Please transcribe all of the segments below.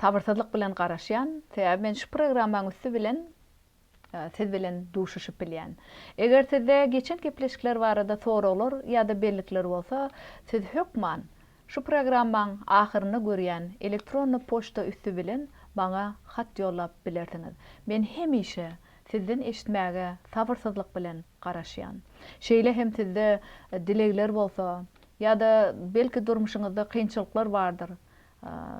Sabyrsyzlyk bilen garaşýan, sebäbi men şu programmaň üsti bilen siz bilen duşuşyp bilýän. Eger sizde geçen gepleşikler barada soraglar ýa-da bellikler bolsa, siz hökman şu programmaň ahyrynda görýän elektronny poçta üsti bilen maňa hat ýollap bilersiňiz. Men hemişe sizden eşitmäge sabyrsyzlyk bilen garaşýan. Şeýle hem sizde dilegler bolsa, ýa-da belki durmuşyňyzda kynçylyklar bardyr,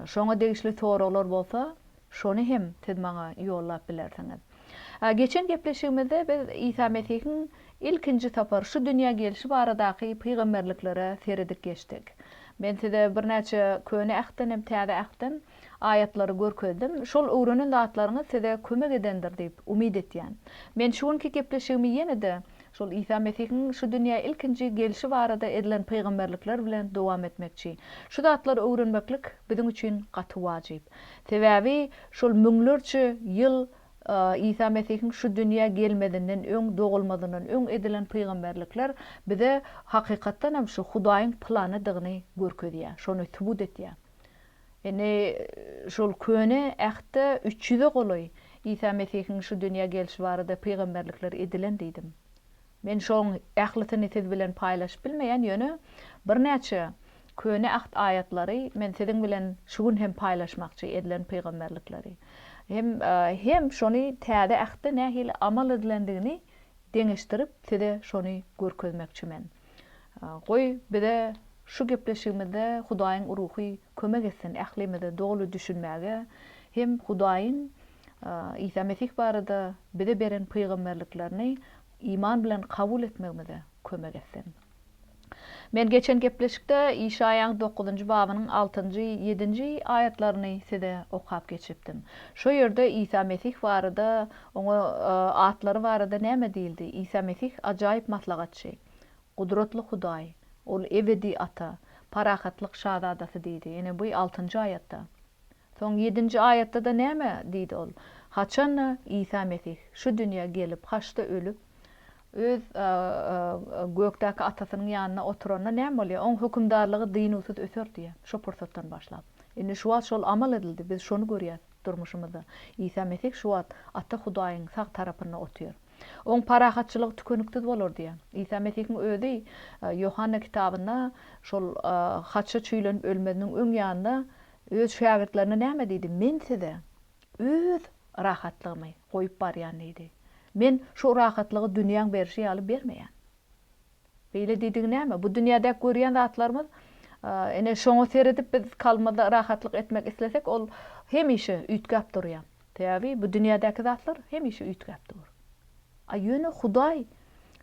Şoňa degişli soraglar bolsa, şony hem siz maňa ýollap bilersiňiz. Geçen gepleşigimizde biz Isa Mesihiň ilkinji sapar şu dünýä gelşi baradaky pygamberliklere seredip geçdik. Men size birnäçe Köne Ähtden hem Täze Ähtden aýatlary görkezdim. Şol öwrenen zatlaryňyz size kömek edendir diýip umyt etýän. Men şu günki gepleşigimi ýene-de Şol Isa Mesihiň şu dünýä ilkinji gelşi barada edilen pygamberlikler bilen dowam etmekçi. Şu zatlary öwrenmeklik biziň üçin gaty wajyp. Sebäbi şol müňlerçe ýyl Isa Mesihiň şu dünýä gelmezinden öň, dogulmazyndan öň edilen pygamberlikler bize hakykatdan hem şu Hudaýyň planydygyny görkezýär, şony subut etýär. Indi şol Köne Ähtde üç ýüze golaý Isa Mesihiň şu dünýä gelşi barada pygamberlikler edilen diýdim. Men şoň ählisini siz bilen paýlaşyp bilmeýän, ýöne birnäçe Köne Äht aýatlary men siziň bilen şu gün hem paýlaşmakçy, edilen pygamberlikleri. Hem hem şony Täze Ähtde nähili amal edilendigini deňeşdirip size şony görkezmekçi men. Goý, bize şu gepleşigimizde Hudaýyň ruhy kömek etsin ählimize doly düşünmäge hem Hudaýyň Isa Mesih barada bize beren pygamberliklerini iman bilen kabul etmegimize kömek etsin. Men geçen gepleşikde Işaýaň dokuzynjy babynyň altynjy, ýedinji aýatlaryny size okap geçipdim. Şo ýerde Isa Mesih barada Oňa atlary barada näme diýildi? Isa Mesih ajaýyp Maslahatçy, Gudratly Hudaý, Ol ebedi Ata, Parahatlyk Şazadasy diýdi. Ine, bu altynjy aýatda. Soň ýedinji aýatda-da näme diýdi ol? Haçan-da Isa Mesih şu dünýä gelip, haçda ölüp, Öz gökdäki Atasynyň ýanynda oturanda näme bolýar? Oň hökümdarlygy dynuwsyz öser diýýär, şo pursatdan başlap. Indi şu wagt şol amal edildi, biz şony görýäs. Durmuşymyzda. Isa Mesih şu wagt Ata Hudaýyň sag tarapynda otyr. Oň parahatçylygy tükeniksiz bolar diýýär. Isa Mesihiň özi Ýohanna kitabynda şol haça çüýlenip ölmeziniň öň ýanynda öz şägirtlerine näme diýdi? Men size Öz rahatlygymy goýup barýan diýdi. Men şu rahatlygy dünýäň berşi ýaly bermeýän. Beýle diýdigi näme? Bu dünýädäki görýän zatlarymyz, ine, şoňa seredip biz kalbymyzda rahatlyk etmek islesek, ol hemişe üýtgäp durýar. Sebäbi bu dünýädäki zatlar hemişe üýtgäp dur. A ýöne Hudaý,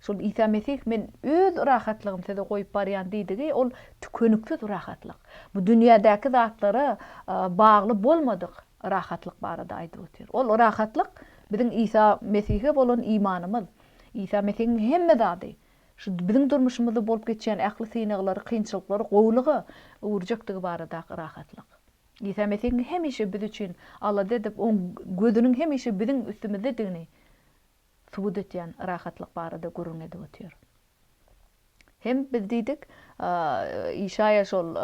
şol Isa Mesih, Men Öz rahatlygymy size goýup barýan diýdigi, ol tükeniksiz rahatlyk. Bu dünýädäki zatlara bagly bolmadyk rahatlyk barada aýdyp otyr. Ol rahatlyk biziň Isa Mesihe bolan imanymyz, Isa Mesihiň hemme zady, şu biziň durmuşymyzda bolup geçýän ähli synaglary, kynçylyklary gowulyga öwürjekdigi baradaky rahatlyk. Isa Mesihiň hemişe biz üçin alada edip, Oň gözüniň hemişe biziň üstümizdedigini subut etýän rahatlyk barada gürrüň edip otyr. Hem biz diýdik, Işaýa şol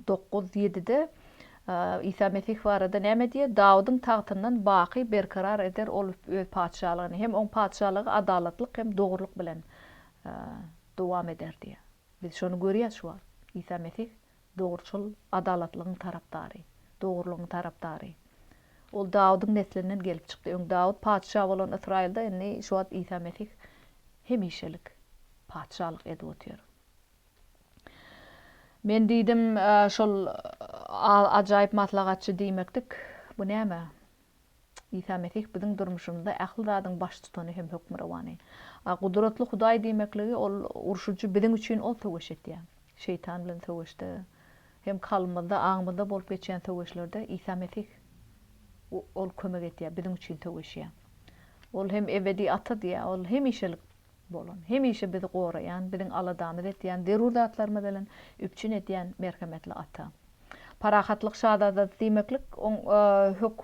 dokuz ýedide Isa Mesih barada näme diýýär? Dawudyň tagtyndan baky berkarar eder Ol Öz patyşalygyny, hem Oň patyşalygy adalatlyk hem dogrulyk bilen dowam eder diýýär. Biz şony görýäs şu wagt. Isa Mesih Dogruçyl, adalatlygyň tarapdary. Dogrulygyň tarapdary. Ol Dawudyň neslinden gelip çykdy. Öň Dawut patyşa bolan Ysraýylda, indi şu wagt Isa Mesih hemişelik patyşalyk edip otyr. Men diýdim, şol ajaýyp maslahatçy diýmekdik. Bu näme? Isa Mesih biziň durmuşymyzda ähli zadyň baştutany hem hökmürowany. A Gudratly Hudaý diýmekligi ol urşujy biziň üçin ol söweş etýär. Şeýtan bilen söweşde hem kalbymyzda, aňymyzda bolup geçýän söweşlerde Isa Mesih ol kömek etýär, biziň üçin söweşýär. Ol hem ebedi Ata diýýär, ol hemişelik bolan, hemişe bizi goraýan, biziň aladamyzy etýän, zerur zatlarymyz bilen üpjün edýän merhemetli ata. Parahatlyk şazadasy diýmeklik oň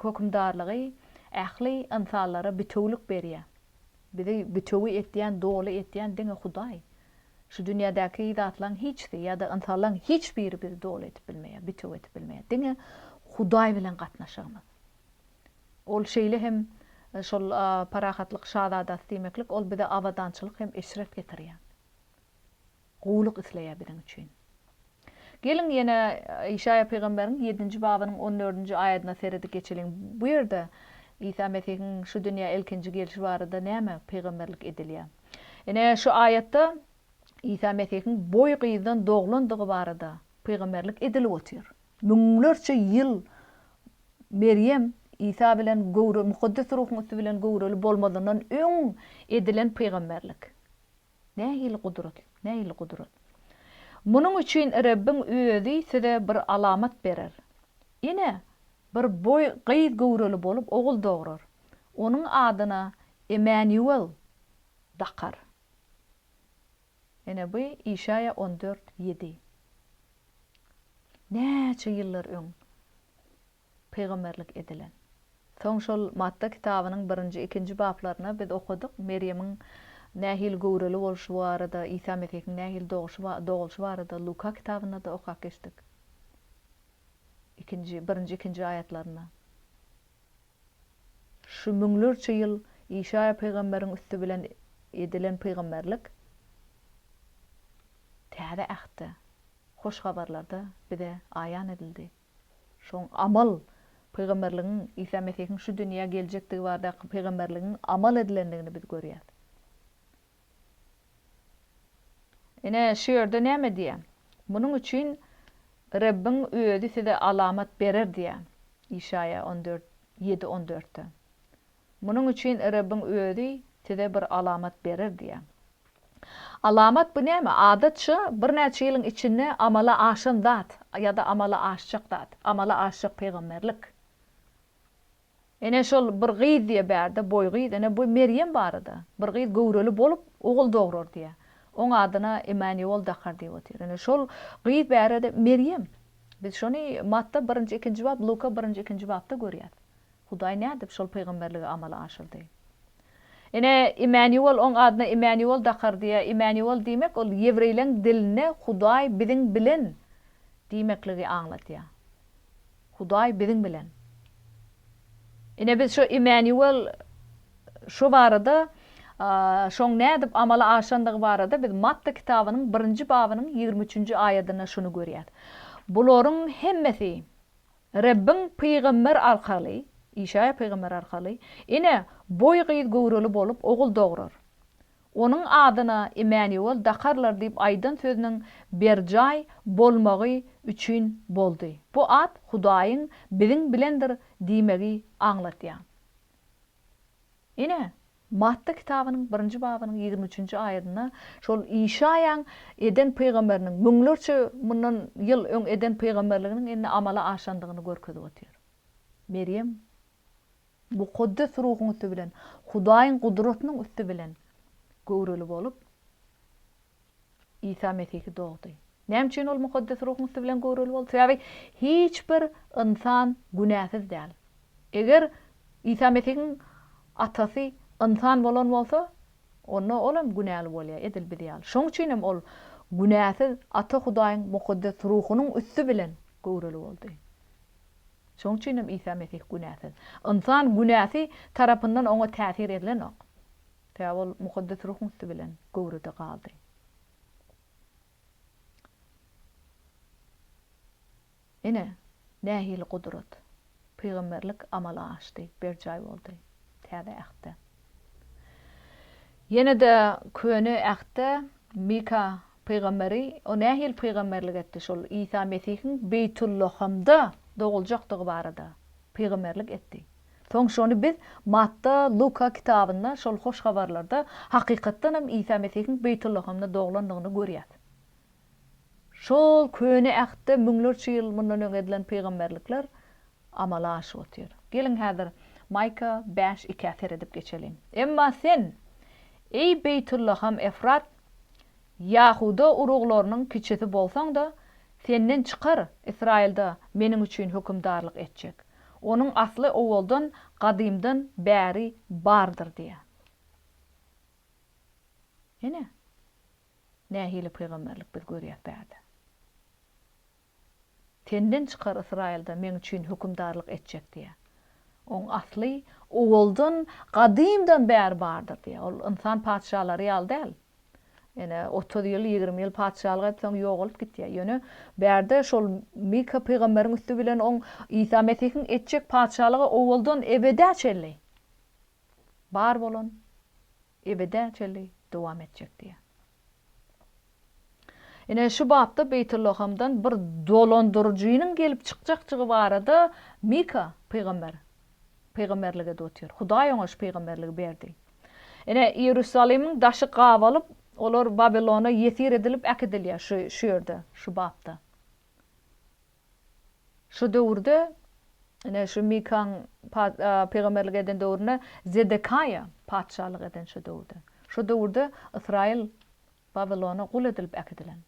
hökümdarlygy ähli ynsanlara bitewülik berýär. Bizi bitewi etýän, doly etýän diňe Hudaý. Şu dünýädäki zatlaryň hiçsi ýa-da ynsanlaryň hiç biri bizi doly edip bilmeýär, bitewi edip bilmeýär. Diňe Hudaý bilen gatnaşygymyz. Ol şeýle hem şol parahatlyk şazadasy diýmeklik, ol bize abadançylyk hem eşret getirýär. Gowulyk isleýär biziň üçin. Geliň, ýene Işaýa pygamberiň ýedinji babynyň on dördünji aýadyna seredip geçeliň. Bu ýerde Isa Mesihiň şu dünýä ilkinji gelşi barada näme pygamberlik edilýär? Ine, şu aýatda Isa Mesihiň boý gyzdan doglandygy barada pygamberlik edilip otyr. Müňlerçe ýyl Merýem Isa bilen göwre Mukaddes Ruhuň üsti bilen göwreli bolmazyndan öň edilen pygamberlik. Nähili gudrat! Nähili gudrat! Munuň üçin Rebbiň Özi size bir alamat berer. Ine, bir boý gyz göwreli bolup ogul dograr. Onuň adyna Emmanuel dakar. Ene bu Işaýa on dört, ýedi. Näçe ýyllar öň pygamberlik edilen. Soň şol Matta kitabynyň birinji, ikinji baplaryna biz okadyk, Merýemiň nähili göwreli bolşy barada, Isa Mesihiň nähili doguşy ba, dogulyşy barada Luka kitabynda-da okap geçdik. Ikinji, birinji, ikinji aýatlarynda. Şu müňlerçe ýyl Işaýa pygamberiň üsti bilen edilen pygamberlik Täze Ähtde, Hoş Habarlarda bize aýan edildi. Şoň amal pygamberligiň, Isa Mesihiň şu dünýä geljekdigi baradaky pygamberligiň amal edilendigini biz görýäs. Ine, şu ýerde näme diýýär? Munuň üçin Rebbiň Özi size alamat berer diýýär, Işaýa on dört, ýedi on dörtde. Munuň üçin Rebbiň Özi size bir alamat berer diýýär. Alamat bu näme? Adatça, birnäçe ýylyň içinde amala aşan zat ýa-da amala aşjak zat, amala aşjak pygamberlik. Ene şol bir gyz diýe bärde boý gyz ene bu Merýem barada bir gyz göwreli bolup ogul dograr diýe oň adyna Imaniol dakar diýip otyr ene şol gyz bärede Merýem biz şony Matta birinji ikinji bap Luka birinji ikinji bapda görýäs Hudaý nädip şol pygamberligi amala aşyrdy ene Imaniol oň adyna Imaniol dakar diýe Imaniol diýmek ol ýewreýleň dilinde Hudaý biziň bilen diýmekligi aňladýa. Hudaý biziň bilen. Ine biz şu Immanuel şu barada şoň nädip amala aşandygy barada biz Matta kitabynyň birinji babynyň ýigrimi üçünji aýadynda şuny görýäs. Bularyň hemmesi Rebbiň pygamber arkaly, Işaýa pygamber arkaly, Ine, boý gyz göwreli bolup ogul dograr. Onuň adyna Imäniol dakarlar diýip aýdan sözüniň berjaý bolmagy üçin boldy. Bu at Hudaýyň biziň bilendir diýmegi aňladýar. Ine, Matda kitabynyň birinji babynyň ýigrimi üçünji aýadynda şol Işaýaň eden pygamberiniň, müňlerçe mundan ýyl öň eden pygamberliginiň indi amala aşandygyny görkezip otyr. Merýem Mukaddes Ruhuň üsti bilen, Hudaýyň gudratynyň üsti bilen göwreli bolup, Isa Mesihi dogdy. Näme üçin Ol Mukaddes Ruhuň üsti bilen göwreli boldy? Sebäbi hiç bir ynsan günäsiz däl. Eger Isa Mesihiň Atasy ynsan bolan bolsa, onda Ol hem günäli bolýar, edil biz ýaly. Şonuň üçin hem Ol günäsiz Ata Hudaýyň Mukaddes Ruhunyň üsti bilen göwreli boldy. Şonuň üçin hem Isa Mesih günäsiz. Ynsan günäsi tarapyndan oňa täsir edilenok. Sebäbi ol Mukaddes Ruhuň üsti bilen göwrede galdy. Ine, nähili gudrat! Pygamberlik amala aşdy, berjaý boldy Täze Ähtde. Ýene-de Köne Ähtde Mika pygamberi o nähili pygamberlik etdi? Şol Isa Mesihiň Beýtullahamda doguljakdygy barada pygamberlik etdi. Soň şony biz Matta, Luka kitabynda şol hoş habarlarda hakykatdan hem Isa Mesihiň Beýtullahamda doglandygyny görýäs. Şol köne Ähtde müňlerçe ýyl mundan öň edilen pygamberlikler amala aşyp otyr. Geliň häzir Maýka bäş ikä seredip geçeliň. Emma sen, eý Beýtullaham Efrat, ýahuda uruglarynyň kiçisi bolsaň-da, senden çykar Ysraýylda Meniň üçin hökümdarlyk etjek. Onuň asly owaldan, gadymdan bäri bardyr diýýär. Ine. Nähili pygamberlik biz görýäs bärde? Senden çykar Ysraýylda Meň üçin hökümdarlyk etjek diýýär. Oň asly owaldan, gadymdan bäri bardyr diýýär. Ol ynsan patyşalary ýaly däl. Ýöne otuz ýyl, ýigrimi ýyl patyşalyk edip, soň ýogalyp gitýär. Ýöne bärde şol Mika pygamberiň üsti bilen oň Isa Mesihiň etjek patyşalygy owaldan ebedä çenli bar bolan Ebede çenli dowam etjek diýýär. Ine, şu bapda Beýtullahamdan bir dolandyryjynyň gelip çykjakjygy barada Mika pygamber pygamberlik edip otyr. Hudaý oňa şu pygamberligi berdi. Ine, Iýerusalimiň daşy gabalyp, olar Babilona ýesir edilip äkidilýär şu şu ýerde, şu bapda. Şu döwürde, ine, şu Mikaň pygamberlik eden döwründe Zedekaýa patyşalyk eden şu döwürde. Şu döwürde Ysraýyl Wawilona gul edilip äkidilen.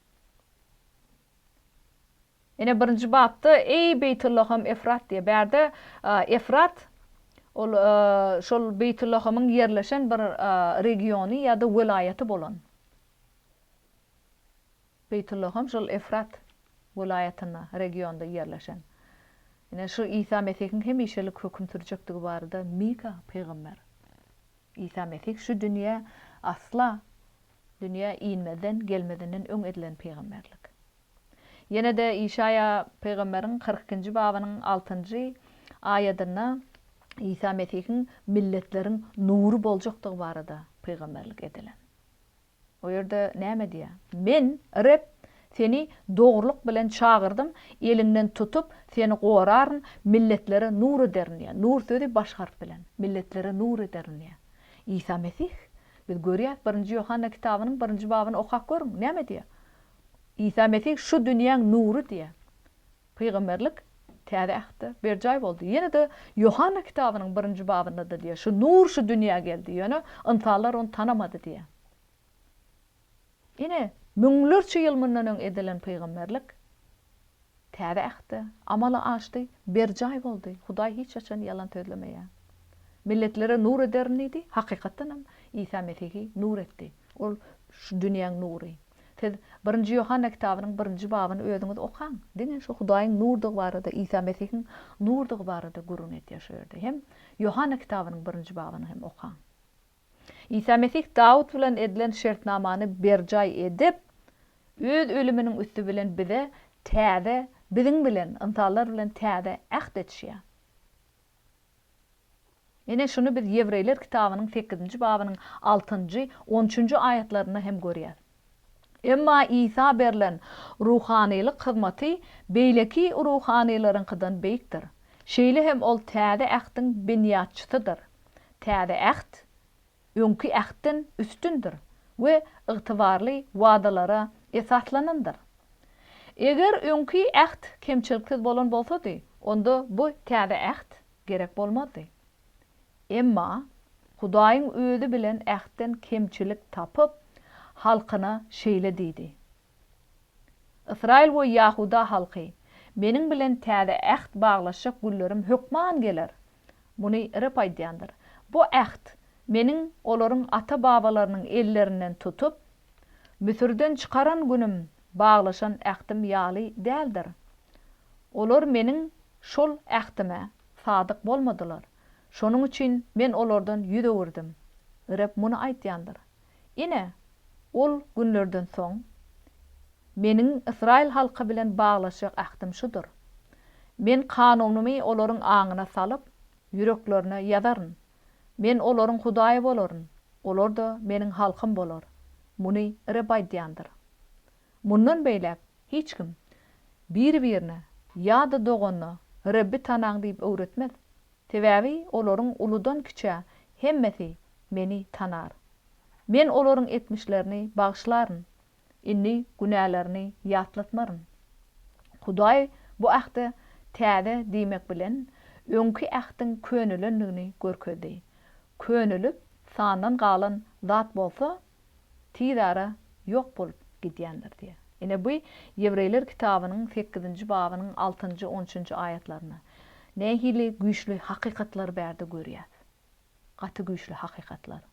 Ine, birinji bapda, Eý, Beýtullaham Efrat diýýär. Bärde Efrat, ol şol Beýtullahamyň ýerleşen bir regiony ýa-da welaýaty bolan. Beýtulla hem şol Efrat welaýatynda, regionda ýerleşen. Ine, şu Isa Mesihiň hemişelik höküm sürjekdigi barada Mika pygamber, Isa Mesih şu dünýä asla dünýä inmezden, gelmezinden öň edilen pygamberlik. Ýene-de Işaýa pygamberiň kyrk ikinji babynyň altynjy aýadynda Isa Mesihiň milletleriň nury boljakdygy barada pygamberlik edilen. O ýerde näme diýýär? Men, Reb, seni dogrulyk bilen çagyrdym, eliňden tutup, seni goraryn, milletlere nur ederin diýýär. Nur sözi baş harp bilen. Milletlere nur ederin diýýär. Isa Mesih. Biz görýäris, Birinji Ýohanna kitabynyň birinji babyny okap görüň, näme diýýär? Isa Mesih şu dünýäň nury diýýär. Pygamberlik, Täze Ähtde, berjaý boldy. Ýene-de Ýohanna kitabynyň birinji babynda-da diýýär, şu Nur şu dünýä geldi, ýöne ynsanlar ony tanamady diýýär. Ine, müňlerçe ýyl mundan öň edilen pygamberlik Täze Ähtde amala aşdy, berjaý boldy. Hudaý hiç haçan ýalan sözlemeýär. Milletlere nur ederin diýdi, hakykatdanam, Isa Mesihi nur etdi. Ol şu dünýäň nury. Siz Birinji Ýohanna kitabynyň birinji babyny özüňiz okaň. Diňe şu Hudaýyň nurdygy barada, Isa Mesihiň nurdygy barada gürrüň edýär şu ýerde. Hem Ýohanna kitabynyň birinji babyny hem okaň. Isa Mesih Dawut bilen edilen şertnamany berjaý edip, öz ölüminiň üsti bilen bize täze, biziň bilen, ynsanlar bilen täze äht edişýär. Ine, şuny biz Ýewreýler kitabynyň sekizinji babynyň altynjy, on üçünji aýatlarynda hem görýäs. Emma Isa berlen ruhanylyk hyzmaty beýleki ruhanylaryňkydan beýikdir. Şeýle hem ol Täze Ähtiň binýatçysydyr. Täze Äht. öňki ähtden üstündir we ygtybarly wadalara esaslanandyr. Eger öňki äht kemçiliksiz bolan bolsady, onda bu täze äht gerek bolmazdy. Emma Hudaýyň Özi bilen ähtden kemçilik tapyp, halkyna şeýle diýdi, Ysraýyl we ýahuda halky, Meniň bilen täze äht baglaşjak günlerim hökman geler. Muny Reb aýdýandyr. Bu äht, Meniň olaryň ata-babalarynyň ellerinden tutup, Müsürden çykaran günüm baglaşan ähtim ýaly däldir. Olar Meniň şol ähtime sadyk bolmadylar. Şonuň üçin Men olardan ýüz öwürdim. Reb muny aýdýandyr. Ine, ol günlerden soň Meniň ysraýyl halky bilen baglaşjak ähtim şudur, Men kanunymy olaryň aňyna salyp, ýüreklerine ýazaryn. Men olaryň Hudaýy bolaryn, olar-da Meniň halkym bolar. Muny Reb aýdýandyr. Mundan beýläk hiç kim biri-birine ýa-da doganyna Rebbi tanaň diýip öwretmez. Sebäbi olaryň uludan-kiçä hemmesi Meni tanar. Men olaryň etmişlerini bagyşlaryn, indi günälerini ýatlatmaryn. Hudaý bu ähte täze diýmek bilen, öňki ähtiň könelendigini görkezdi. Könelik sandan galan zat bolsa, tiz ara ýok bolup gidýändir diýýär. Ine bu Ýewreýler kitabynyň sekizinji babynyň altynjy, on üçünji aýatlarynda nähili güýçli hakykatlary bärde görýäs. Gaty güýçli hakykatlary.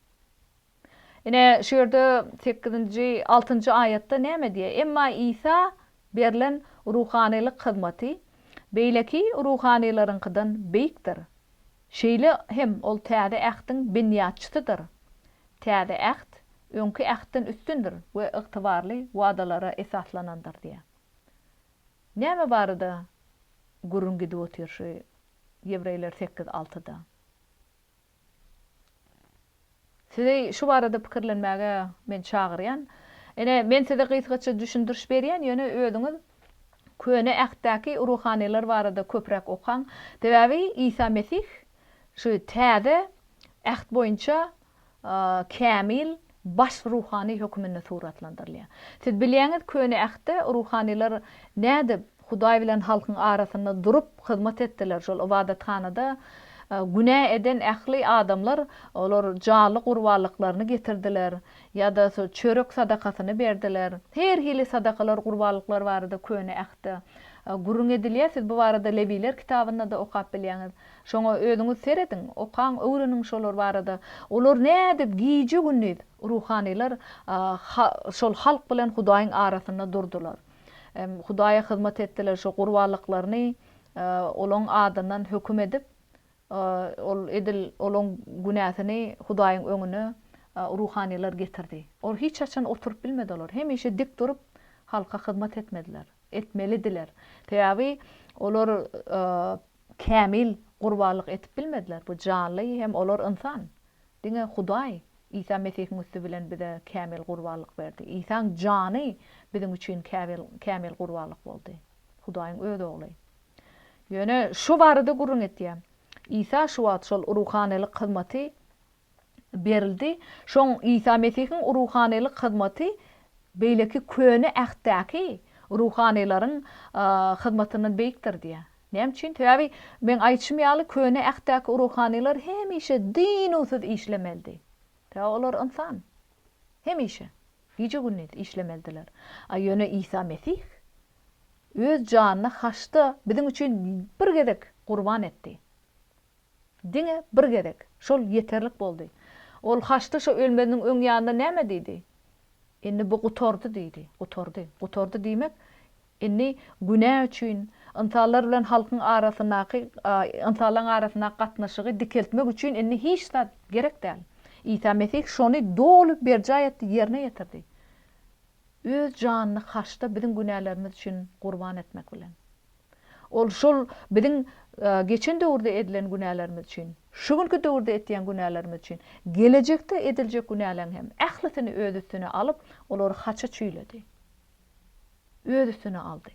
Ine şu ýerde sekizinji, altynjy aýatda näme diýýär? Emma Isa berlen ruhanylyk hyzmaty beýleki ruhanylaryňkydan beýikdir. Şeýle hem ol Täze Ähtiň binýatçysydyr. Täze Äht öňki Ähtden üstündir we ygtybarly wadalara esaslanandyr diýýär. Näme barada gürrüň gidip otyr şu Ýewreýler sekiz altyda? Sizi şu barada pikirlenmäge men çagyrýan. Ine, men size gysgaça düşündiriş berýän, ýöne özüňiz Köne Ähtdäki ruhanylar barada köpräk okaň. Sebäbi Isa Mesih Şu täze Äht boýunça kämil baş ruhany höküminde suratlandyrylýar. Siz bilýäňiz, Köne Ähtde ruhanylar nädip Hudaý bilen halkyň arasynda durup hyzmat etdiler, şol ybadathanada günä eden ähli adamlar olar jaly gurbanlyklaryny getirdiler ýa-da çörek sadakasyny berdiler. Her hili sadakalar, gurbanlyklar barada Köne Ähtde gürrüň edilýär. Siz bu barada Lewiler kitabynda-da okap bilýäňiz. Şoňa özüňiz serediň, okaň, öwreniň şolar barada. Olar nädip gije-gündiz, ruhanylar, şol halk bilen Hudaýyň arasynda durdular. Hudaýa hyzmat etdiler, şo gurbanlyklaryny Olaň adyndan höküm edip, ol edil olaň günäsini Hudaýyň öňüne ruhanylar getirdi. Ol hiç haçan oturyp bilmedi olar. Hemişe dik durup, halka hyzmat etmediler. Etmelidiler. Sebäbi olar Kämil gurbanlyk etip bilmediler. Bu janly hem olar ynsan. Diňe Hudaý Isa Mesihiň üsti bilen bize kämil gurbanlyk berdi. Isaň jany biziň üçin kämil gurbanlyk boldy. Hudaýyň öz ogly. Ýöne şu barada gürrüň etýär. Isa şu wagt şol ruhanylyk hyzmaty berildi. Şoň Isa Mesihiň ruhanylyk hyzmaty beýleki Köne Ähtdäki ruhanylaryň hyzmatyndan beýikdir diýýär. Näme üçin? Sebäbi meň aýdyşym ýaly Köne Ähtdäki ruhanylar hemişe dynuwsyz işlemelidi. Sebäbi olar ynsan. Hemişe, gije-gündiz işlemelidiler. A ýöne Isa Mesih öz janyny haçda biziň üçin bir gezek gurban etdi. Diňe bir gezek. Şol ýeterlik boldy. Ol Haçly şo ölmeziniň öň ýanynda näme diýdi? Indi bu gutardy diýdi. Gutardy. Gutardy diýmek, indi günä üçin, ynsanlar bilen halkyň arasyndaky, ynsanlaryň arasyndaky gatnaşygy dikeltmek üçin indi hiç zat gerek däl. Isa Mesih şony doly berjaý etdi, ýerine ýetirdi. Öz janyny Haçda biziň günälerimiz üçin gurban etmek bilen. Ol şol biziň geçen döwürde edilen günälerimiz üçin, şu günki döwürde etýän günälerimiz üçin, gelejekde ediljek günäleň hem ählisini öz üstüne alyp, olary haça çüýledi. Öz üstüne aldy.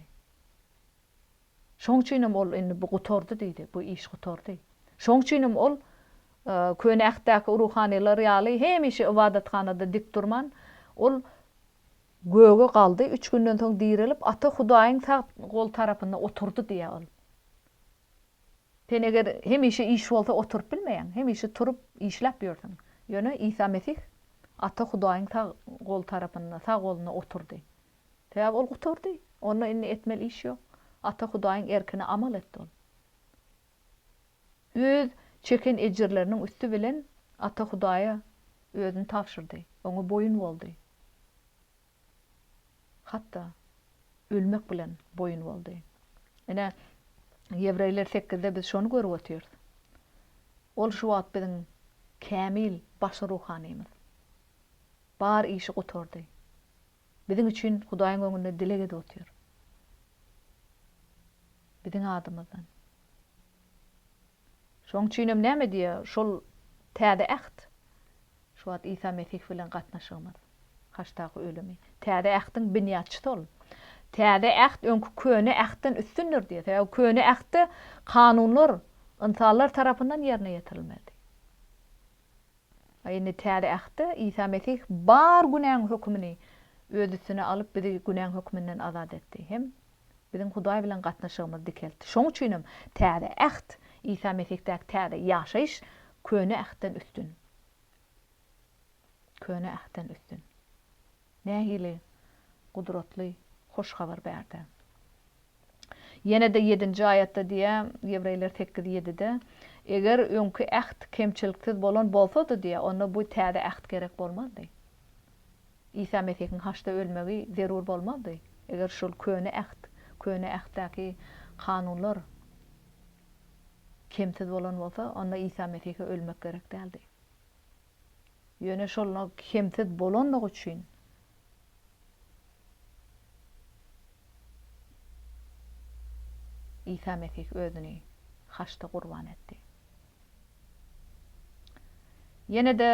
Şoň üçin hem ol indi bu gutardy diýdi, bu iş gutardy. Şoň üçin hem ol Köne Ähtdäki ruhanylar ýaly hemişe ybadathanada dik durman, ol Göge galdy, üç günden soň direlip, Ata Hudaýyň sag gol tarapynda oturdy diýýär ol. Sen eger hemişe iş bolsa oturyp bilmeýäň, hemişe turup işläp ýörsüň. Ýöne Isa Mesih Ata Hudaýyň sag gol tarapynda, sag golunda oturdy. Sebäbi ol gutardy. Onda indi etmeli iş ýok. Ata Hudaýyň erkine amal etdi ol. Öz çeken ejirleriniň üsti bilen Ata Hudaýa özüni tabşyrdy, Oňa boýun boldy. Hatda ölmek bilen boýun boldy. Ine, Ýewreýler sekizde biz şony görüp otyrys. Ol şu wagt biziň kämil baş ruhanymyz. Bar işi gutardy. Biziň üçin Hudaýyň öňünde dileg edip otyr. Biziň adymyzdan. Şoň üçinem näme diýýär şol Täze Äht? Şu wagt Isa Mesih bilen gatnaşygymyz. Haçdaky ölümi. Täze Ähtiň binýatçysy ol. Täze Äht öňki Köne Ähtden üstündir diýýär. Sebäbi Köne Ähtde kanunlar ynsanlar tarapyndan ýerine ýetirilmelidi. A indi Täze Ähtde Isa Mesih bar günäň hökümini Öz üstüne alyp, bizi günäň höküminden azat etdi hem biziň Hudaý bilen gatnaşygymyzy dikeltdi. Şoň üçinem Täze Äht, Isa Mesihdaky täze ýaşaýyş Köne Ähtden üstün. Köne Ähtden üstün. Nähili gudratly hoş habar bärde. Ýene-de ýedinji aýatda diýýär, Ýewreýler sekiz ýedide, Eger öňki äht kemçiliksiz bolan bolsady diýýär, onda bu täze äht gerek bolmazdy. Isa Mesihiň haçda ölmegi zerur bolmazdy, eger şol köne äht, köne ähtdäki kanunlar kemsiz bolan bolsa, onda Isa Mesihe ölmek gerek däldi. Ýöne şol nok hemsiz bolandygy üçin, Isa Mesih özüni haçda gurban etdi. Ýene-de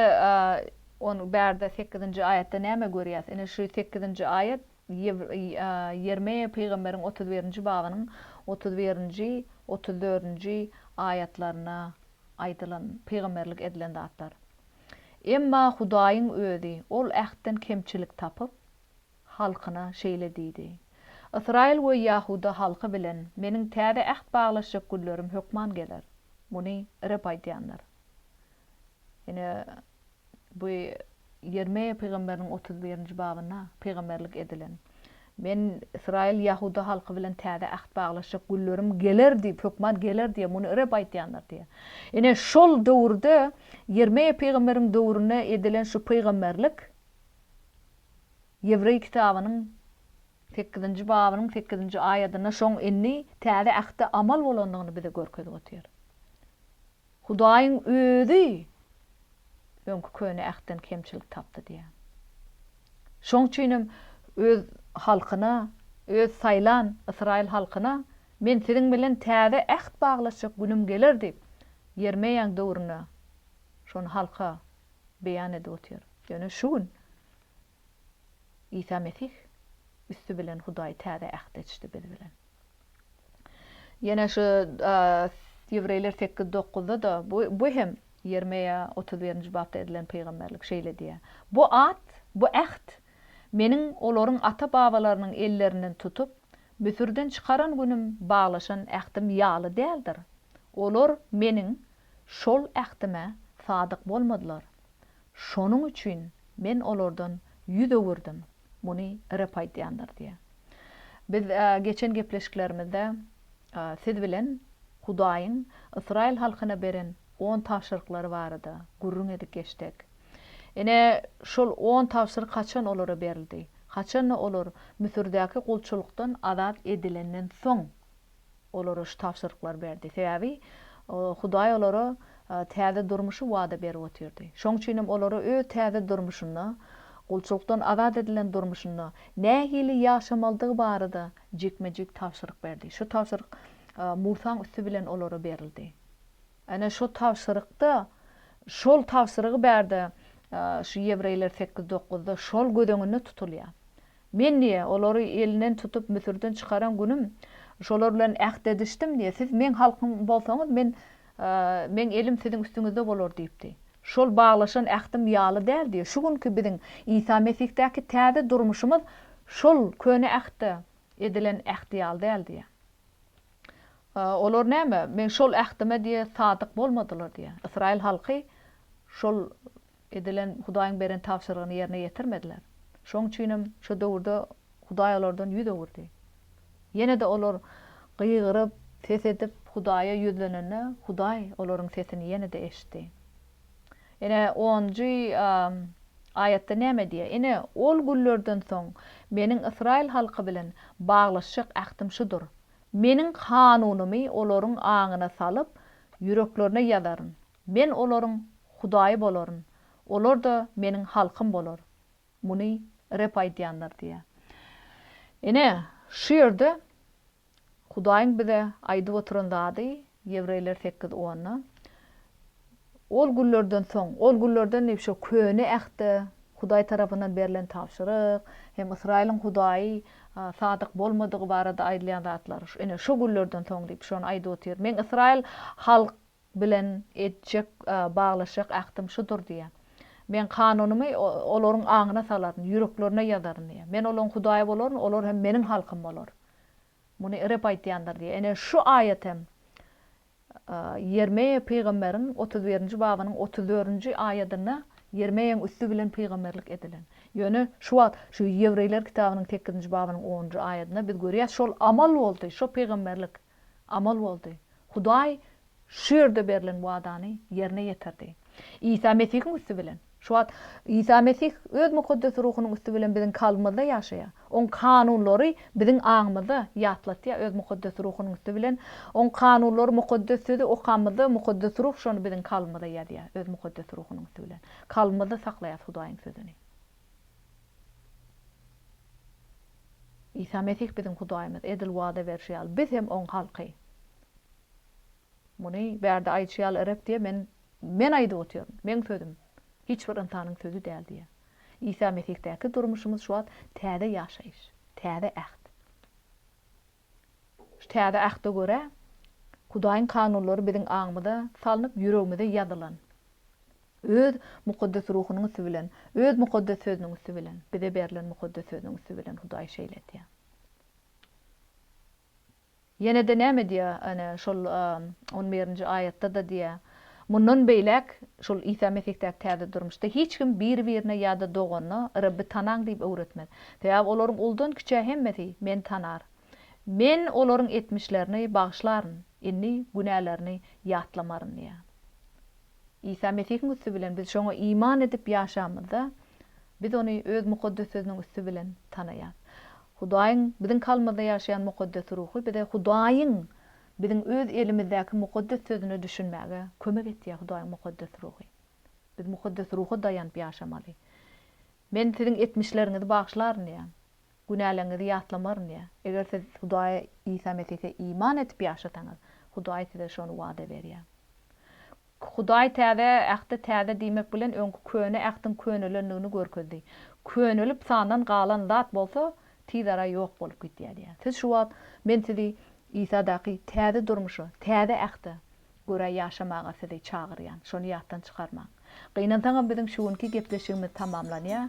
on bärde sekizinji aýatda näme görýäs? Ine şu sekizinji aýat Ýermeýa pygamberiň otuz birinji babynyň otuz birinji, otuz dördünji aýatlarynda aýdylan, pygamberlik edilen zatlar. Emma Hudaýyň Özi ol ähtden kemçilik tapyp, halkyna şeýle diýdi, Ysraýyl we ýahuda halky bilen Meniň täze äht baglaşjak günlerim hökman geler. Muny Reb aýdýandyr. Ine, bu Ýermeýa pygamberiniň otuz birinji babynda pygamberlik edilen, Men Ysraýyl, ýahuda halky bilen täze äht baglaşjak günlerim geler diýip, hökman geler diýýär, muny Reb aýdýandyr diýýär. Ine, şol döwürde, Ýermeýa pygamberiň döwründe edilen şu pygamberlik Ýewreý kitabynyň sekizinji babynyň sekizinji aýadynda şoň indi Täze Ähtde amal bolandygyny bize görkezip otyr. Hudaýyň Özi öňki Köne Ähtden kemçilik tapdy diýýär. Şoň üçin hem Öz halkyna, Öz saýlan ysraýyl halkyna, Men siziň bilen täze äht baglaşjak günüm geler diýip, Ýermeýaň döwründe şony halka beýan edip otyr. Ýöne şu gün Isa Mesih üsti bilen Hudaý täze ähti eçdi biz bilen. Ýene şu Ýewreýler sekiz dokuzda-da bu hem Ýermeýa otuz birinji bapda edilen pygamberlik şeýle diýýär. Bu at, bu äht Meniň olaryň ata-babalarynyň ellerinden tutup, Müsürden çykaran günüm baglaşan ähtim ýaly däldir. Olar Meniň şol ähtime sadyk bolmadylar. Şonuň üçin Men olardan ýüz öwürdim, muny Reb aýdýandyr diýýär. Biz geçen gepleşiklerimizde siz bilen Hudaýyň ysraýyl halkyna beren on tabşyryklary barada gürrüň edip geçdik. Ine, şol on tabşyryk haçan olara berildi? Haçan-da olar Müsürdäki gulçulykdan azat edilenden soň Olara şu tabşyryklary berdi. Sebäbi Hudaý olara täze durmuşy wada berip otyrdy. Şoň üçin hem olara öz täze durmuşynda, gulçulykdan azat edilen durmuşynda nähili ýaşamalydygy barada jikme-jik tabşyryk berdi. Şu tabşyryk Musaň üsti bilen olara berildi. Ene şu tabşyrykda şol tabşyrygy bärde şu Ýewreýler sekiz dokuzda şol göz öňünde tutulýar. Men, diýýär, olary elinden tutup Müsürden çykaran günüm, şolar bilen äht edişdim, diýýär, siz Meň halkym bolsaňyz, Men, Meň elim siziň üstüňizde bolar diýipdi. Şol baglaşan ähtim ýaly däl, diýýär. Şu günki biziň Isa Mesihdäki täze durmuşymyz şol Köne Ähtde edilen äht ýaly däl, diýýär. Olar näme, Meň şol ähtime, diýýär, sadyk bolmadylar, diýýär. Ysraýyl halky şol edilen Hudaýyň beren tabşyrygyny ýerine ýetirmediler. Şonuň üçinem şo döwürde Hudaý olardan ýüz öwürdi. Ýene-de olar gygyryp, ses edip, Hudaýa ýüzlenende, Hudaý olaryň sesini ýene-de eşitdi. Ine, onunjy aýatda näme diýýär? Ine, ol günlerden soň Meniň ysraýyl halky bilen baglaşjak ähtim şudur, Meniň kanunymy olaryň aňyna salyp, ýüreklerine ýazaryn. Men olaryň Hudaýy bolaryn, olar-da Meniň halkym bolar. Muny Reb aýdýandyr diýýär. Ine, şu ýerde Hudaýyň bize aýdyp oturan zady, Ýewreýler sekiz onda, Ol günlerden soň, ol günlerden diýip, şo Köne Ähtde Hudaý tarapyndan berlen tabşyryk hem Ysraýylyň Hudaýy sadyk bolmadygy barada aýdylýan zatlar. Ine, şo günlerden soň diýip, şony aýdyp otyr. Men Ysraýyl bilen etjek, baglaşjak ähtim şudur diýýär. Men kanunymy olaryň aňyna salaryn, ýüreklerine ýazaryn diýýär. Men olaryň Hudaýy bolaryn, olar hem Meniň halkym bolar. Muny Reb aýtýandyr diýýär. Ine, şu aýat hem Ýermeýa pygamberiň otuz birinji babynyň otuz dördünji aýadynda Ýermeýaň üsti bilen pygamberlik edilen. Ýöne şu wagt şu Ýewreýler kitabynyň sekizinji babynyň onunjy aýadynda biz görýäs, şol amal boldy, şo pygamberlik. Amal boldy. Hudaý şu ýerde berlen wadany ýerine ýetirdi. Isa Mesihiň üsti bilen. Şu wagt Isa Mesih Öz Mukaddes Ruhunyň üsti bilen biziň kalbymyzda ýaşaýar. Oň kanunlary biziň aňymyza ýatlatýar Öz Mukaddes Ruhunyň üsti bilen. Oň kanunlary Mukaddes Sözi okamyzda Mukaddes Ruh şony biziň kalbymyza ýazýar Öz Mukaddes Ruhunyň üsti bilen. Kalbymyzda saklaýarys Hudaýyň Sözüni. Isa Mesih biziň Hudaýymyz, edil wada berşi ýaly, biz hem Oň halky. Muny bärde aýdyşy ýaly Reb diýýär, Men, Men aýdyp otyryn, Meň sözüm, hiç bir ynsanyň sözi däl diýýär. Isa Mesihdäki durmuşymyz şu wagt täze ýaşaýyş, täze äht. Şu täze Ähte görä, Hudaýyň kanunlary biziň aňymyza salnyp, ýüregimize ýazylan. Öz Mukaddes Ruhunyň üsti bilen, Öz Mukaddes Sözüniň üsti bilen, bize berlen Mukaddes Sözüniň üsti bilen Hudaý şeýle edýär. Ýene-de näme diýýär? Ene, şol on birinji aýatda-da diýýär. Mundan beýläk, şol Isa Mesihdaky täze durmuşda hiç kim bir-birine ýa-da doganyna, Rebbi tanaň diýip öwretmez. Sebäbi olaryň uldan-kiçä hemmesi Meni tanar. Men olaryň etmişlerini bagyşlaryn, indi günälerini ýatlamaryn diýýär. Isa Mesihiň üsti bilen biz şoňa iman edip ýaşamyzda, biz Ony Öz Mukaddes Sözüniň üsti bilen tanaýarys. Hudaýyň, biziň kalbymyzda ýaşaýan Mukaddes Ruhy bize Hudaýyň Biziň öz elimizdäki mukaddes sözüne düşünmäge kömek etýä Hudaýyň mukaddes ruhy. Biz mukaddes ruha daýanyp ýaşamaly. Men siziň etmişleriňizi bagyşlaryn diýýär. Günäleriňizi ýatlamaryn diýýär. Eger siz Hudaýa Isa Mesihe iman edip ýaşasaňyz, Hudaý size şony wada berýär. Hudaý Täze Ähti täze diýmek bilen öňki Köne Ähtiň könelendigini görkezdi. Könelip sandan galan zat bolsa tizara ýok bolup gitýär diýýär. Siz şu wagt men sizi Isadaky täze durmuşa, täze Ähte görä ýaşamaga sizi çagyrýan. Şony ýatdan çykarmaň. Gynansaňam biziň şu günki gepleşigimiz tamamlanýar.